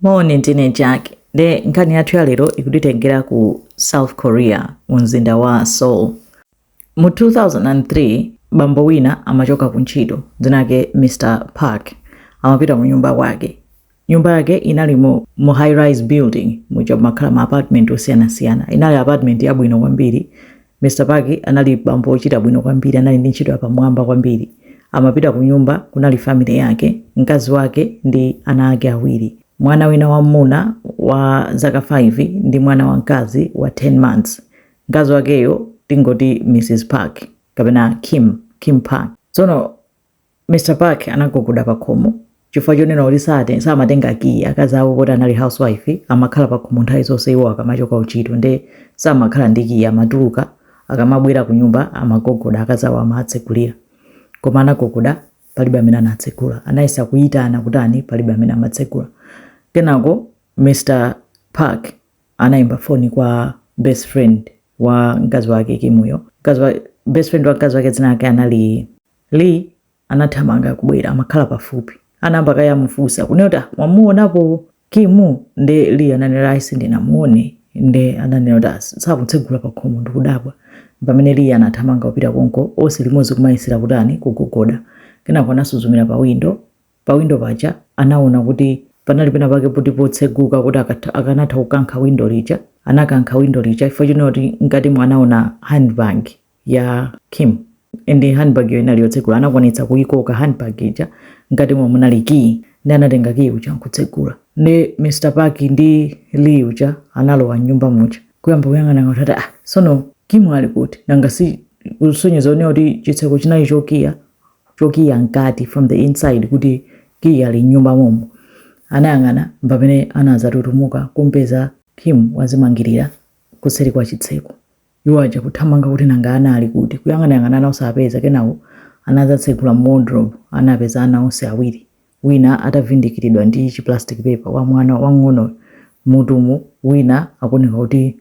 Moni ndine Jack nde nkhani yathu ya lero ikutitengera ku South Korea mu mzinda wa Seoul. Mu 2003 bambo wina amachoka ku ntchito dzina lake Mr Park amapita kunyumba kwake. Nyumba yake inali mu, mu high rise building muja makhala ma apartment osiyanasiyana. Inali apartment yabwino kwambiri Mr. Park anali bambo wochita bwino kwambiri, anali ndi ntchito yapamwamba kwambiri. Amapita kunyumba kunali family yake, mkazi wake ndi ana ake awiri, mwana wina wammuna wa zaka 5 ndi mwana wamkazi wa 10 months. Mkazi wakeyo tingoti Mrs. Park kapena Kim, Kim Park. Tsono. Mr Park anagogoda pakhomo chifukwa chonena kuti sate samatenga kiyi akazi awo poti anali housewife amakhala pakhomo nthawi zonse iwo akamachoka kuntchito nde samakhala ndi kiyi amatuluka akamabwera kunyumba amagogoda akazi awo amatsegulira koma anagogoda palibe amene anatsegula anayesa kuyitana kutani palibe amene amatsegula kenako Mr Park anayimba foni kwa best friend wa mkazi wake Kimuyo mkazi wa best friend wa mkazi wake dzina lake anali Lee anathamanga kubwera amakhala pafupi. Anayamba kaye amufunsa kunena kuti ah, mwamuonapo Kimu? Nde Lee ananena ayi sindinamuone. Nde ananena kuti ah, sakutsegula pakhomo ndikudabwa. M'pamene Lee anathamanga kupita konko onse limodzi kumayesera kutani kugogoda. Kenako anasuzumira pa windo. Pa windo paja anaona kuti panali pena pake poti potseguka kuti akanatha kukankha windo lija. Anakankha windo lija chifukwa chonena kuti mkatimo anaona handbag. ya Kim nde handbag yo inali yotsegula anakwanitsa kuyikoka handbag ija mkatimo munali key nde anatenga key uja nkutsegula nde Mr Park ndi Lee uja analowa mnyumba muja kuyamba kuyang'ana ngati ati ah sono Kim ali kuti nanga si kusonyeza kunena kuti chitseko chinali chokiya chokiya mkati from the inside kuti kiya ali mnyumba momo anayang'ana mpamene anazatutumuka kumpeza Kim wazimangirira kuseri kwa chitseko Iwo aja kuthamanga kuti nanga ana ali kuti, kuyang'anayang'ana ana osawapeza kenako anadzatsegula mu wardrobe anawapeza ana onse awiri wina atavindikiridwa ndi chi plastic paper wa mwana wamng'onoyo mmutumu wina akuoneka kuti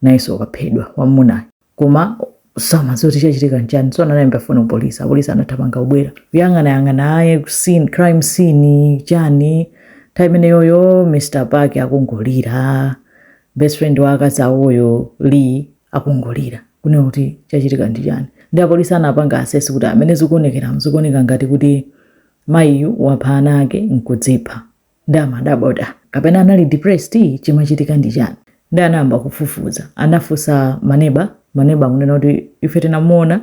nayenso waphedwa wammunayo koma samadziwa kuti chachitika nchani tsono anayimbira foni ku police apolice anathamanga kubwera kuyang'anayang'ana aye scene, crime scene chani nthawi imeneyoyo Mr Park akungolira best friend wa akazi awoyo Lee akungolira kunena kuti chachitika ndi chani nde apolisi anapanga assess kuti mmene zikuonekera zikuoneka ngati kuti mayiyu wapha ana ake nkudzipha nde amadabwa kapena anali depressed chimachitika ndi chani nde anayamba kufufuza anafunsa maneba maneba akunena kuti ife tinamuona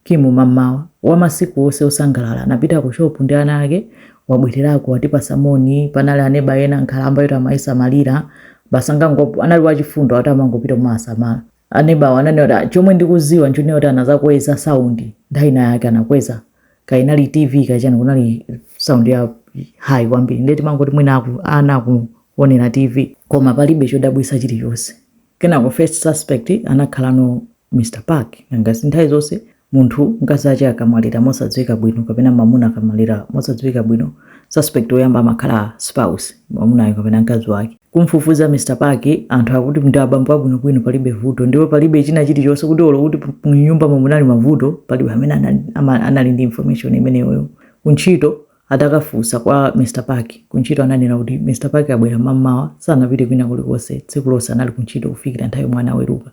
Kimu, mammawa wa masiku onse osangalala anapita ku shopu ndi ana ake, wabwererako, watipatsa moni, panali aneba ena, nkhalamba yoti amayisamalira, basi amangop. anali wachifundo akuti amangopita kumawasamala. Anebawo ananena kuti, ah, chomwe ndikudziwa nchonena kuti anadzakweza sound nthawi inayake, anakweza, kaya inali TV kaya chani, kunali sound ya high kwambiri, ndiye timangoti mwina aku, ana akuwonera TV. Koma palibe chodabwitsa chilichonse. Kenako first suspect anakhalano Mr Park, nanga si nthawi zonse munthu mkazi ache akamwalira mosadziwika bwino kapena mamuna akamwalira mosadziwika bwino suspect oyamba amakhala spouse mamunayo kapena mkazi wake. Kumfufuza Mr Park anthu akuti ndi abambo abwinobwino palibe vuto ndipo palibe china chilichonse kuti olo kuti mnyumbamo munali mavuto palibe amene anali, anali ndi information imeneyoyo kuntchito Atakafunsa kwa Mr Park kuntchito ananena kuti Mr Park abwera mammawa sanapite kwina kulikonse tsiku lonse anali kuntchito kufikira nthawi yomwe anaweruka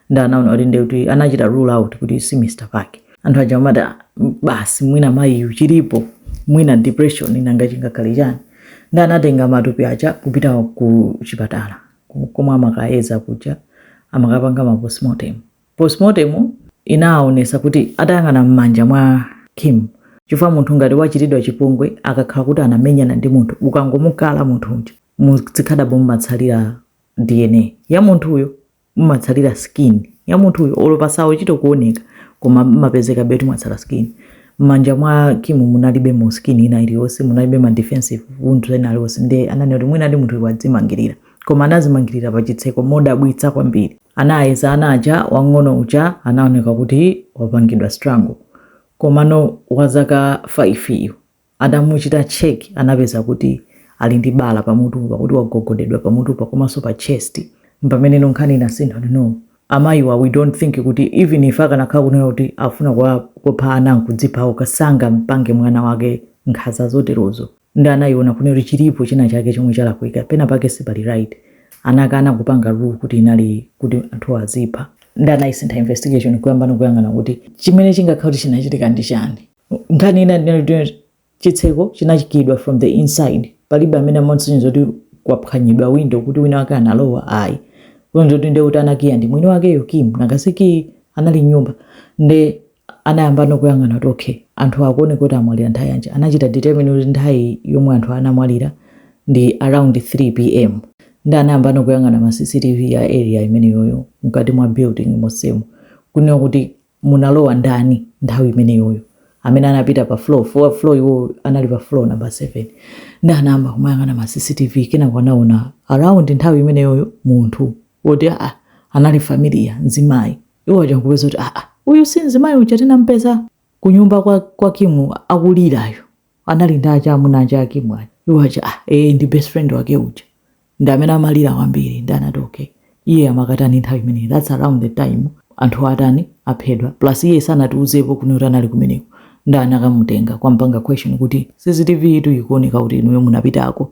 nde anaona kuti nde kuti anachita rule out kuti si Mr Park. Anthu aja amati "Ah, m- basi mwina mayiyu chilipo mwina depression nanga chingakhale chani nde anatenga matupi aja kupita ku chipatala ku- komwe amakayeza kuja amakapanga ma postmortem Postmortem inaonesa kuti atayang'ana mmanja mwa Kim chifukwa munthu ngati wachitidwa chipongwe akakhala kuti anamenyana ndi munthu ukangomukala munthu uja mu zikhadabo mumatsalira dna ya munthuyo mumatsalira skin ya munthuyo olo pasachite kuoneka koma mmapezekabe kuti mwatsala skin mmanja mwa Kim munalibemo skin ina iliyonse munalibe ma defensive wounds ena alionse nde ananena kuti mwinadi munthu wadzimangirira koma anazimangirira pa chitseko modabwitsa kwambiri Anayeza ana aja wang'ono uja anaoneka kuti wapangidwa strangle komano wa zaka 5 yu atamuchita check anapeza kuti ali ndi bala pamutu pakuti wagogodedwa pamutupa komaso pa chest mpameneno nkhani inasintha kuti no amayiwa we don't think kuti even if akanakhala kunena kuti akufuna kuwapha ana nkudzipha okha sangampange mwana wake nkhaza zoterozo. nde anaiona kunena kuti chilipo china chake chomwe chalakwika pena pake sipali right anakana kupanga rule kuti inali kuti anthu azipha nde anaisintha investigation kuyambano kuyang'ana kuti chimene chingakhala kuti chinachitika ndi chani nkhani inanso inali kuti chitseko chinachikidwa from the inside palibe amene amasonyeza kuti kwaphwanyidwa window kuti wina wake analowa ayi kusonyeza nde kuti anakiya ndi mwini wakeyo kim nangasi kiyi anali mnyumba nde anayambano kuyang'ana kuti ok anthuwa akuoneka kuti amwalira nthawi yanji, anachita determine kuti nthawi yomwe anthuwa anamwalira ndi around 3 pm nde anayambano kuyang'ana ma cctv a area imeneyoyo mkati mwa building monsemo kunena kuti munalowa ndani nthawi imeneyoyo amene anapita pa floor chifukwa floor iwowo anali pa floor number 7 nde anayamba kumayang'ana ma cctv kenako anaona around nthawi imeneyoyo munthu woti ah, anali familiar mzimayi iwo aja nkupeza kuti aa uyu si nzimayi uja tinampeza kunyumba kwa, kwa kimu akulirayo anali ndi aja amuna ake a kimu aja iwo aja ah, ee ndi best friend wake uja ndi amene amalira kwambiri nde anati okay iye amakatani nthawi imeneyi thats around the time anthu atani aphedwa plus iye sanatiuzepo kuti anali kumeneko nde anakamutenga kukampanga question kuti cctv ikuoneka kuti inuyo munapitako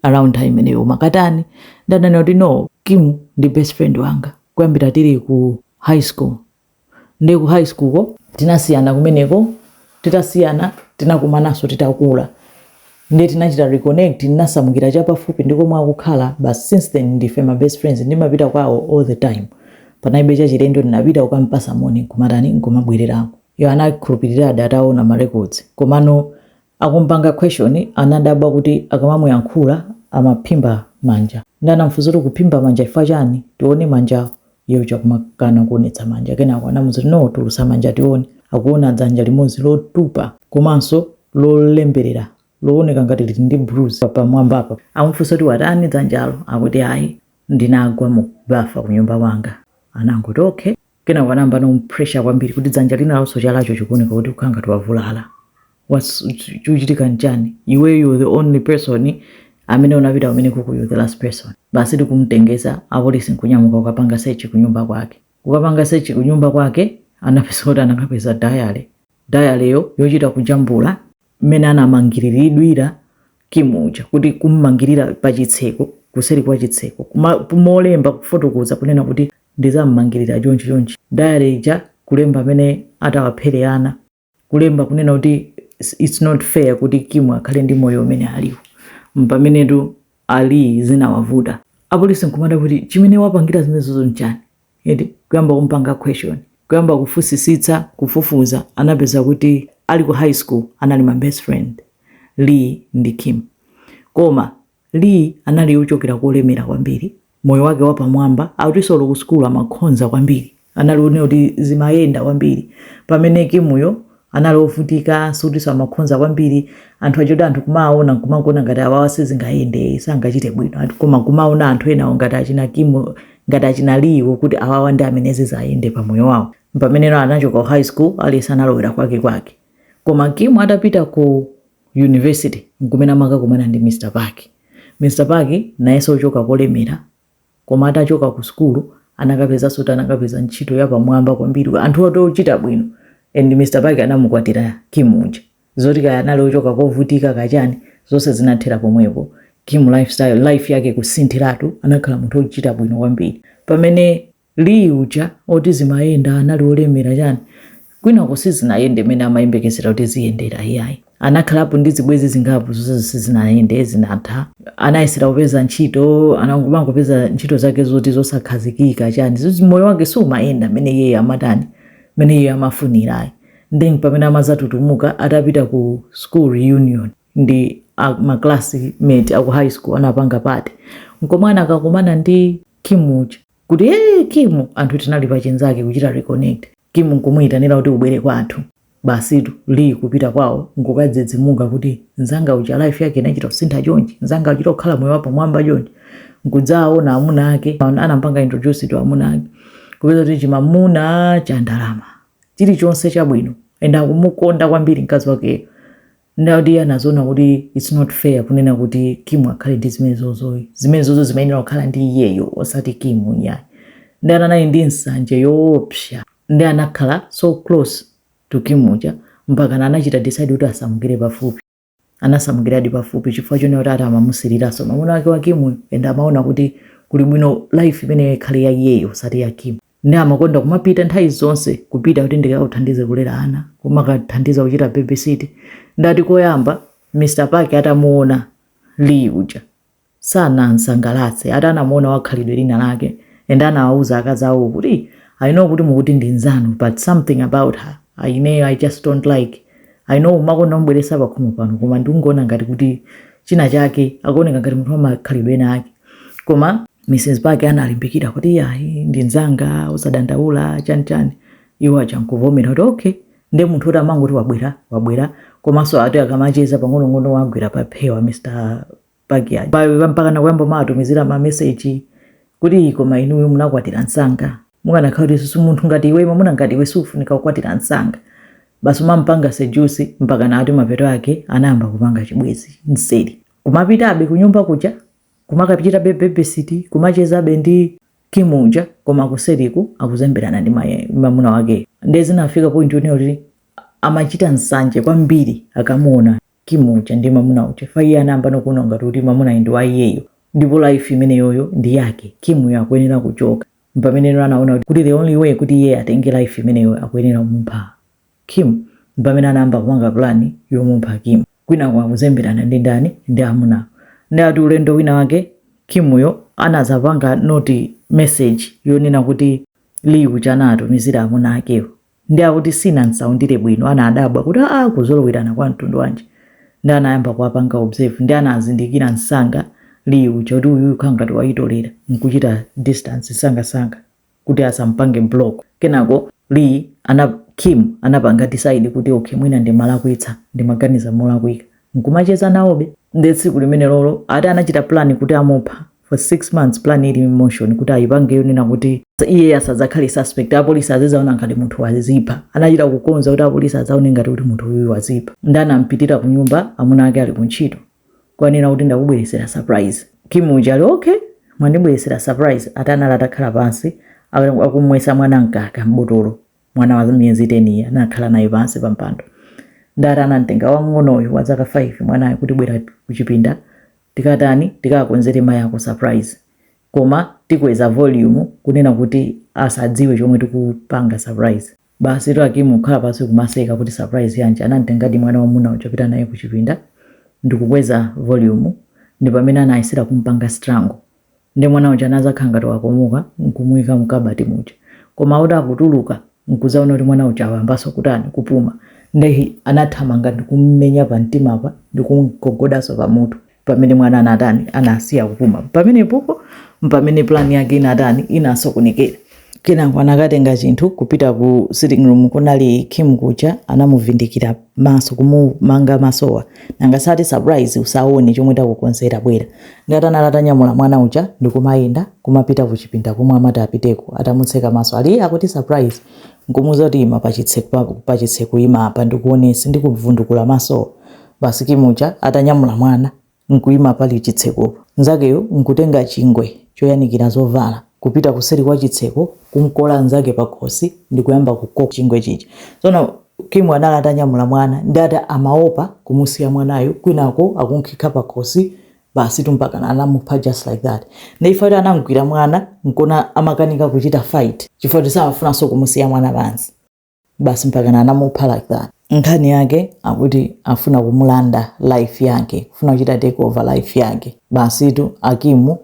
around time imeneyo mumakatani nde ananena kuti no kimu ndi best friend wanga kuyambira tili ku high school nde ku high school ko tinasiyana kumeneko titasiyana tinakumananso titakula nde tinachita reconnect nasamukira chapafupi ndi komwe akukhala but since then ndife ma best friends ndimapita kwawo all the time panalibe chachilendo ndinapita kukampasa moni nkumatani nkumabwererako iwo anakhulupirira ati ataona ma records komano Akumpanga question anadabwa kuti akamamuyankhula amaphimba manja nde anamufunsa kuti ukuphimba manja chifukwa chani tione manja iye uja kumakana kuonetsa manja kenako anamuuza kuti no tulutsa manja tione akuona dzanja limodzi lotupa komanso lolemberera looneka ngati lili ndi bruise pamwambapa amufunsa kuti watani dzanjalo akuti ayi ndinagwa mu bafa kunyumba kwanga anangoti okay kenako anayambano kum'pressure kwambiri kuti dzanja linalonso chalacho chikuoneka kuti ukukhala ngati wavulala What's- chu- chikuchitika nchani iweyo you the only person amene unapita kumenekuko you're the last person basi tikumtengetsa apolisi nkunyamuka kukapanga sechi kunyumba kwake kukapanga sechi kunyumba kwake anapeza kuti anakapeza dayale dayaleyo yochita kujambula mmene anamangiriridwira Kim uja kuti kum'mangirira pa chitseko kuseri kwa chitseko kumalemba kufotokoza kunena kuti ndizam'mangirira chonchi chonchi diary ija kulemba mmene atawaphere ana kulemba kunena kuti it's not fair kuti Kim akhale ndi moyo umene ali nawo pamene iye zinamuvuta apolisi nkumadabwa kuti chimene wapangira zimenezozo nchani eti kuyamba kumpanga question kuyamba kufunsitsitsa kufufuza anapeza kuti ali ku high school anali ma best friend Lee ndi Kim koma Lee anali ochokera kolemera kwambiri moyo wake wapamwamba akutinso ku sukulu amakhonza kwambiri anali oonekera kuti zimayenda kwambiri pamene Kimuyo anali ovutika, sikutinso amakhonza kwambiri, anthu aja oti anthu kumawaona nkumangoona ngati awawa sizingayende, sangachite bwino, ati koma nkumaona anthu enawo ngati achina Kimu, ngati achina Lee wo kuti awawa ndi amene zizayende pa moyo wawo. Pamene anachoka ku high school, aliyense analowera kwakekwake. Koma Kimu atapita ku university, nkumene amakakumana ndi Mr. Park. Mr. Park nayenso wochoka kolemera, Koma atachoka ku sukulu anakapezanso kuti anakapeza ntchito yapamwamba kwambiri, anthu oti ochita bwino and Mr Park anamukwatira Kim uja. Zoti kaya anali ochoka kovutika kaya chani zonse zinathera pomwepo. Kim lifestyle, life yake kusinthiratu anakhala munthu ochita bwino kwambiri. Pamene. Lee uja oti zimayenda anali olemera chani kwinaku sizinayende mene amayembekezera kuti ziyendera iyayi anakhalapo ndi zibwezi zingapo zonsezo sizinayende zinatha anayesera kupeza ntchito anangopeza ntchito zake zoti zosakhazikika chani moyo wake siumayenda mene iyeyo amatani mene iyeyo amafunirayi nde pamene amazatutumuka atapita ku school reunion ndi a, ma classmate aku high school anapanga party nkomwe anakakumana ndi kimu uja kuti ee kimu anthu tinali pachinzake kuchita reconnect kimu nkumuyitanira kuti ubwere kwathu basitu Lee kupita kwawo nkukadzidzimuka kuti nzanga uja life yake inachita kusintha chonchi nzanga uchita kukhala moyo wapamwamba chonchi nkudzaona amuna ake an- anampanga introduce to amuna ake kupeza kuti chimamuna cha ndalama chilichonse chabwino and akumukonda kwambiri mkazi wakeyo nde akuti iye anaziona kuti its not fair kunena kuti Kim akhale ndi zimenezozoyi. Zimenezozo zimayenera kukhala ndi iyeyo osati Kim iyayi. Nde ana anali ndi nsanje yoopsa nde anakhala so close to Kim uja mpakana anachita decide kuti asamukire pafupi. Anasamukiradi pafupi chifukwa chonena kuti ati amamusiriranso mwamuna wake wa Kim uyu and amaona kuti kuli bwino life imeneyo ikhale ya iyeyo osati ya Kim. nde amakonda kumapita nthawi zonse kupita kuti ndikakuthandize kulera ana kumakathandiza kuchita babysit nde ati koyamba mr park atamuona lee uja sanamsangalatse ati anamuona wakhalidwe lina lake and anawauza akazi awo kuti i know kuti mukuti ndi nzanu but something about her I- ineyo i just don't like i know umakonda mubweresa pakhomo pano koma ndikungoona ngati kuti china chake akuoneka ngati munthu wamakhalidwe ena ake koma mrs park analimbikira kuti iyayi ndi nzanga usadandaula chani chani iwo aja nkuvomera kuti okay nde munthu kuti amangoti wabwera wabwera komanso ati akamacheza pang'onong'ono wagwira pa phewa mr park aja Pa- mpaka nakuyamba kumaatumizira mameseji kuti koma inuyo munakwatira nsanga mukanakhala kuti susu munthu ngati iwe mamuna ngati iwe sufunika kukwatira nsanga basi kumampanga seduce mpakana ati mapeto ake anayamba kupanga chibwezi mseri kumapitabe kunyumba kuja kumakachitabe babysit kumachezabe ndi Kim uja koma kuseriku akuzemberana ndi mamuna wakeyo ndiye zinafika point yonena kuti amachita nsanje kwambiri akamuona Kim uja ndi mamuna uja fa iye anayamba nokuona ngati kuti mamunayi ndi wa iyeyo ndipo life imeneyoyo ndi yake Kimuyo akuyenera kuchoka mpamene no anaona kuti the only way kuti iye atenge life imeneyo akuyenera kumupha Kim mpamene anayamba kupanga plan yomupha Kim kwinaku akuzemberana ndi ndani ndi amunawo nde ati ulendo wina wake Kim yo anazapanga notice message yonena kuti Lee uja anaatumizira amuna akewo nde akuti sinamsaundire bwino anadabwa kuti aah kuzolowerana kwa mtundu wanji nde anayamba kuwapanga observe nde anazindikira nsanga Lee uja kuti uyuyu khala ngati wayitolera nkuchita distance nsangansanga kuti asampange block kenako Lee, Kim anapanga decide kuti okay mwina ndimalakwitsa ndimaganiza molakwika nkumacheza nayebe nde tsiku limene lolo ati anachita plan kuti amupha for six months plan ili in motion kuti ayipange yonena kuti iye asadzakhale suspect apolisi azizaona ngati munthu wazipha anachita kukonza kuti apolisi azaone ngati kuti munthu uyu wazipha nde anampitira ku nyumba amuna ake ali ku ntchito kwanena kuti ndakubweresera surprise. Kim uja ali okay mwandibweresera surprise ati anali atakhala pansi akumwesa mwana mkaka m'botolo mwana wa miyezi 10 ija anakhala naye pansi pa mpando nde ati anamtenga wang'onoyo wa zaka 5 mwanayo kuti bwera kuchipinda tikatani tikakonzere mayi yako surprise koma tikweza volume kunena kuti asadziwe chomwe tikupanga surprise Basitu a Kim kukhala pansi kumaseka kuti surprise yanji, anamtengadi mwana wamuna uja kupita naye kuchipinda ndikukweza volume ndipamene anayesera kumpanga strangle nde mwana uja anazakhala ngati wakomoka nkumuika mkabati muja koma ati akutuluka nkuzaona kuti mwana uja wayambaso kutani, kupuma nde anathamanga ndikumumenya pamtima apa ndikumgogodaso pamutu. Pamene mwana anatani, anasiya kupuma, pamenepopo mpamene plan yake inatani, inasokonekera. Kenako anakatenga chinthu kupita ku sitting room kunali Kim kuja anamuvindikira maso kumumanga masowa. Nanga sati surprise usaone chomwe takukonzera bwera. Nde ati anali atanyamula mwana uja ndikumayenda kumapita kuchipinda komwe amati apiteko atamutseka maso ali iye akuti surprise nkumuuza kuti ima pachitsekopa, ima apa ndikuonetse ndikuvundukula masowa. Basi Kim uja atanyamula mwana n'kuima pali chitsekopo, mnzakeyo n'kutenga chingwe choyanikira zovala, kupita kuseri kwa chitseko, kum'kola mnzake pakhosi ndi kuyamba kukoka chingwe chija. Tsono Kimu anali atanyamula mwana nde ati amaopa kumusiya mwanayu kwinako akunkhikha pakhosi, basitu mpakana anamupha just like that. Nde chifukwa choti anam'gwira mwana n'kona amakanika kuchita fight chifukwa choti samafunanso kumusiya mwana pansi. basi mpakana anamupha like that nkhani yake akuti afuna kumulanda life yake kufuna kuchita take over life yake basitu akimu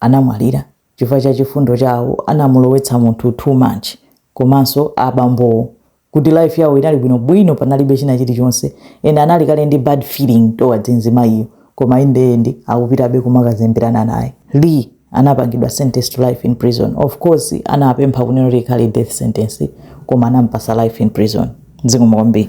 anamwalira chifukwa cha chifundo chawo anamulowetsa munthu too much komanso abambowo kuti life yawo inali bwinobwino panalibe china chilichonse and anali kale ndi bad feeling towards mzimayiyo koma iye ndi akupitabe kumakazemberana naye lee anapangidwa sentence to life in prison of course anapempha kunena kuti ikhale death sentence koma anampasa life in prison zikomo kwambiri